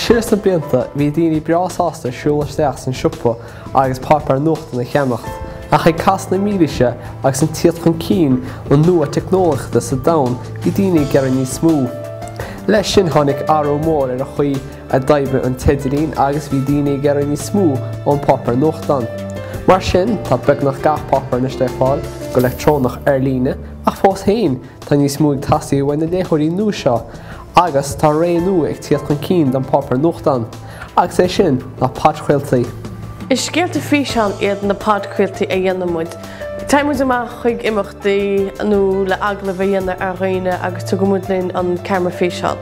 Siar sna blianta bhí daoine breá sásta siúl isteach san siopa agus páipéar nuachtan a cheannacht, ach ag cas na mílaoise agus an tíocht chun cinn an nua teicneolaíochta sa domhan bhí daoine ag iarraidh níos mó. Leis sin tháinig athrú mór ar an chaoi a d'oibrigh an t-idirlíon agus bhí daoine ag iarraidh níos mó ón páipéar nuachtan. Mar sin tá beagnach gach páipéar anois le fáil go leictreonach ar líne, ach fós féin, Tá níos mó ag teastáil uaidh na léitheoirí nua seo agus tá ré nua ag tíocht chun cinn don páipéar nuachtán, agus é sin ná podchraoltaí. Is scéalta físeán iad na podchraoltaí a dhéanann muid. Téann muid amach chuig imeachtaí nó le agallamh a dhéanamh ar dhaoine agus tugann muid linn an ceamara físeán.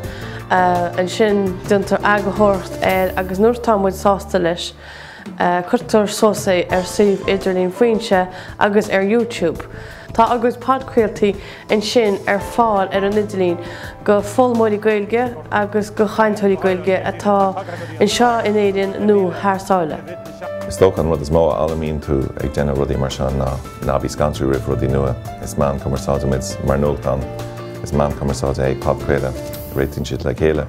Ansin déantar eagarthóireacht air agus nuair atá muid sásta leis, Cuirtear suas é ar suíomh idirlín Foinse agus ar YouTube. Tá ár gcuid podchraoltaí ansin ar fáil ar an idirlíon go foghlaimeoirí Gaeilge agus go chainteoirí Gaeilge atá anseo in Éirinn nó thar sáile. Is dócha an rud is mó a fhoghlaimíonn tú ag déanamh rudaí mar seo ná ná bí scanraithe roimh rudaí nua. Is meán cumarsáide muid mar nuachtán, is meán cumarsáide é podchraoladh, réitíonn siad le chéile.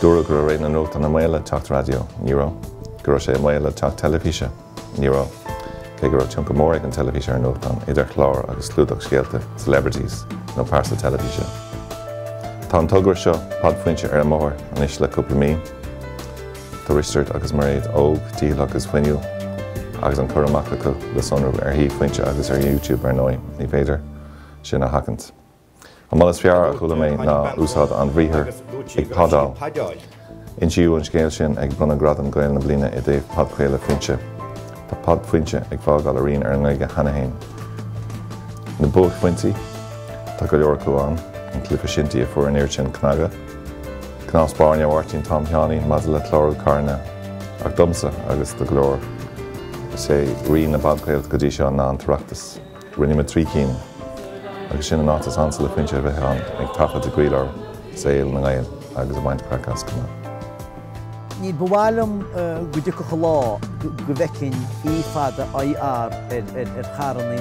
Dúradh go raibh ré na nuachtán i mbaol le teacht raidió. Ní raibh. Go raibh sé i mbaol le teacht teilifíse. Ní raibh. Cé go raibh tionchar mór ag an teilifís ar an nuachtán, idir chlár agus clúdach scéalta, celebrities, nó pearsa teilifíse. Tá an togra seo, Pod Foinse ar an mbóthar anois le cúpla mí. Tá Risteard agus Mairéad óg, dícheallach is fuinniúil, agus an cur amach acu le sonrú ar shuíomh Foinse agus ar YouTube ar ndóigh. Ní féidir sin a sheachaint. An moladh is fearr a chuala mé ná úsáid an bhriathair 'ag podáil'. Insíodh an scéal sin ag Bronnadh Gradam Gael na Bliana i dtaobh Podchraoladh Foinse. Tá Pod Foinse ag fágáil a rian ar an nGaeilge cheana fhéin. Na buaicphointí? Tá go leor acu ann, an cluiche shinty a fuair an oiread sin cnagadh, cnámh spairne Mháirtín Tom Sheáinín maidir le clárú carranna, ach domsa, agus do go leor, is é rí na bpodchraolta go dtí seo ná an tOireachtas. Rinne muid trí cinn agus sin an áit is ansa le Foinse a bheith ann, ag taifead i gcroílár saol na nGael agus ag baint craic as chomh maith. Ní ba mhaith liom go dtiocfadh an lá go bhfeicfinn e fada IR ar charrannaí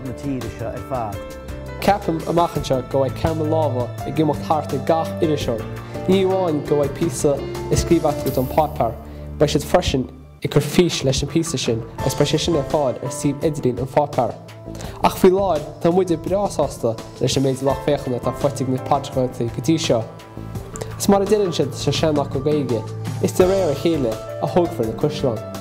na tíre seo ar fad. Ceapaim amach anseo go mbeidh ceamara láimhe ag imeacht thart ag gach iriseoir. Ní amháin go mbeidh píosa á scríobh acu don páipéar, beidh siad freisin, ag cur fís leis an bpíosa sin agus beidh sé sin ar fáil ar suíomh Idirlín an Pháipéir. Ach faoi láthair, tá muide breá sásta leis an méid lucht féachana atá faighte ag na podchraoltaí go dtí seo. Is mar a deireann siad sa seanfhocal Gaeilge, is de réir a chéile a thógfar na caisleáin.